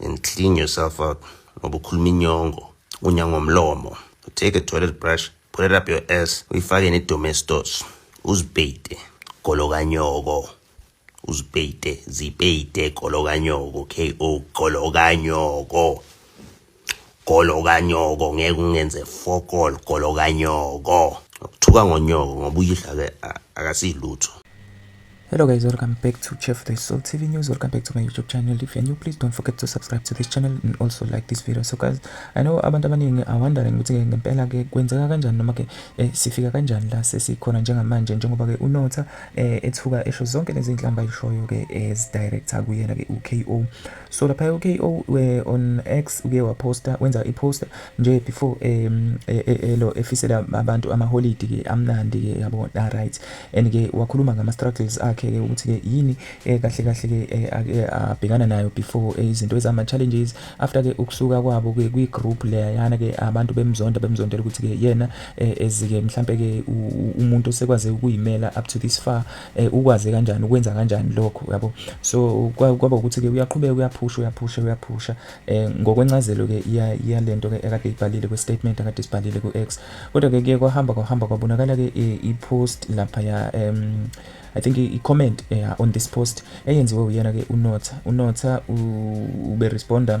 and clean yourself up ngoba ukhuluma inyongo unya ngomlomo take a toilet brush put it up your ass uyifake nedomestos uzibheyide golo kanyoko uzibheyide zibheyide golo kanyoko ko golo kanyoko Golo kanyoko ngeke ungenze fokol golo kanyoko. Ukuthuka ngonyoko ngoba uyidla ke akasilutho. Hello guys, welcome back to Chef the Soul TV News. Welcome back to my YouTube channel. If you're new, please don't forget to subscribe to this channel and also like this video. So guys, I know abantu abaningi are wondering ukuthi ke ngempela ke kwenzeka kanjani noma ke eh, sifika kanjani la sesikhona njengamanje njengoba ke unotha eh, ethuka esho zonke lezi inhlamba ishoyo ke as director kuyena ke uKO. so lapha uKO eh, on X uke waposta wenza iposta nje before um e, e, e, lo efisela abantu amaholidi ke amnandi ke yabo ah, right and ke wakhuluma ngama struggles akhe ke ukuthi ke yini eh, kahle kahle ke eh, abhekana nayo before izinto ezama challenges after ke ukusuka kwabo ke kwi group le yana ke abantu bemzonda bemzondela ukuthi ke yena ezike mhlambe ke umuntu osekwaze ukuyimela up to this far eh, ukwaze kanjani ukwenza kanjani lokho yabo so kwaba ukuthi ke uyaqhubeka uyaphusha uyaphusha uyaphusha eh ngokwencazelo ke iyalento ke ekade ibhalile kwe statement akade sibhalile ku X kodwa ke kuye kwahamba kwahamba kwabonakala ke eh, i post lapha ya um i think i comment eh, on this post eyenziwe uyena ke unotha unotha ube responder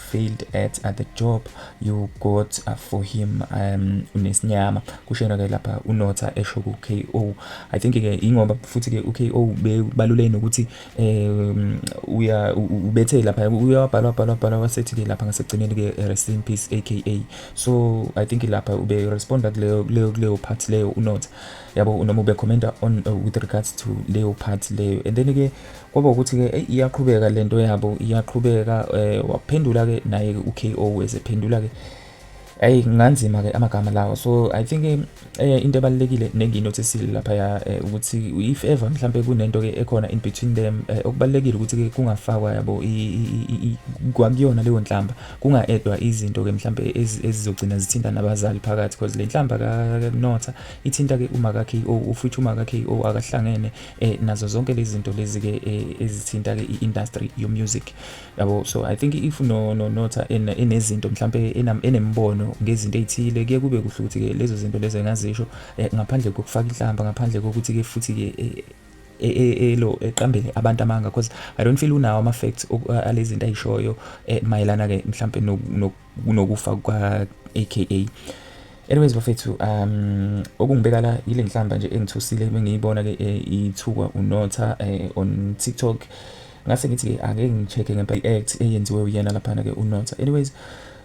failed at, at the job you got uh, for him um unesinyama kushena ke lapha unotha esho ku KO i think ke ingoba futhi ke u KO bebalule nokuthi um uya ubethe lapha uyabhalwa bhalwa bhalwa wasethi ke lapha ngasegcineni ke eh, rest in peace aka so i think lapha ube respond kuleyo kuleyo kuleyo part leyo unotha yabo unoma ube commenta on uh, with regards to leyo part leyo and then ke kwaba ukuthi ke eyi iyaqhubeka lento yabo iyaqhubeka eh waphendula ke naye ke uKO esephendula ke ayi nganzima ke amagama lawo so i think eh into ebalekile nenginothi sile lapha ya eh, ukuthi if ever mhlambe kunento ke ekhona in between them eh, okubalekile ukuthi ke kungafakwa yabo kwakuyona leyo nhlamba kungaedwa izinto ke mhlambe ezizogcina zithinta nabazali phakathi because le nhlamba ka Notha ithinta ke uma ka KO ufuthi uma ka KO akahlangene eh nazo zonke lezi zinto lezi ke eh, ezithinta ke iindustry yo music yabo so i think if no no notha enezinto mhlambe enembono ngezinto ezithile kuye kube kuhle ukuthi ke lezo zinto lezo engazisho eh, ngaphandle kokufaka inhlamba ngaphandle kokuthi ke futhi ke eh, E, e, elo eqambele abantu amanga because i don't feel unawo ama facts alezi zinto ayishoyo eh, mayelana ke mhlambe nokufa kwa aka Anyways bafethu um okungibeka la yile nhlamba nje engithusile bengiyibona ke eh, ithukwa unotha eh, on TikTok ngase ngithi ke ake ngicheke ngempela i-act eyenziwe uyena laphana ke unotha anyways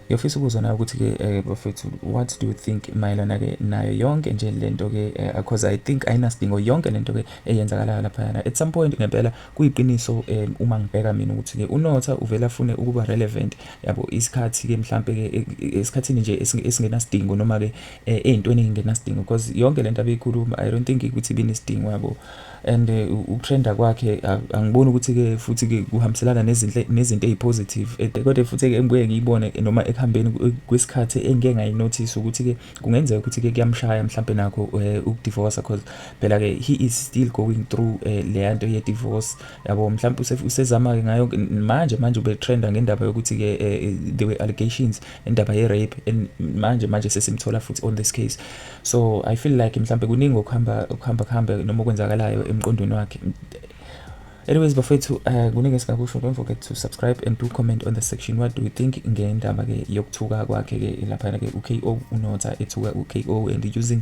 ngiyofisa ukuzwa nayo ukuthi ke eh, bafethu what do you think mayelana ke nayo yonke nje lento ke eh, because i think ayinasidingo yonke lento ke eyenzakalayo laphayana at some point ngempela kuyiqiniso eh, uma ngibheka mina ukuthi ke unotha uvela afune ukuba relevant yabo isikhathi ke mhlambe ke e, e, esikhathini nje esingenasidingo noma ke eh, ezintweni ezingenasidingo because yonke lento abeyikhuluma i don't think ukuthi binesidingo yabo and eh, utrenda kwakhe angiboni ukuthi ke futhi ke kuhambiselana nezinhle nezinto ezipositive eh, kodwa futhi ke engibuye ngiyibone noma ekuhambeni kwesikhathi engike ngayinotice ukuthi ke kungenzeka ukuthi ke kuyamshaya mhlambe nakho ukudivorce because phela ke he is still going through leyanto ye divorce yabo mhlawumbe usezama-ke ngayo manje manje ubetrenda ngendaba yokuthi-ke um there were allegations indaba ye-rape and manje manje sesimthola futhi on this case so i feel like mhlawumbe kuningi okuhamba kuhamba kuhambe noma okwenzakalayo emqondweni wakhe anyways bafethu um kuningi esingakusho don't forget to subscribe and do comment on the section what do you think ngendaba-ke yokuthuka kwakhe-ke laphana-ke u-ko unotha ethuka u-ko and using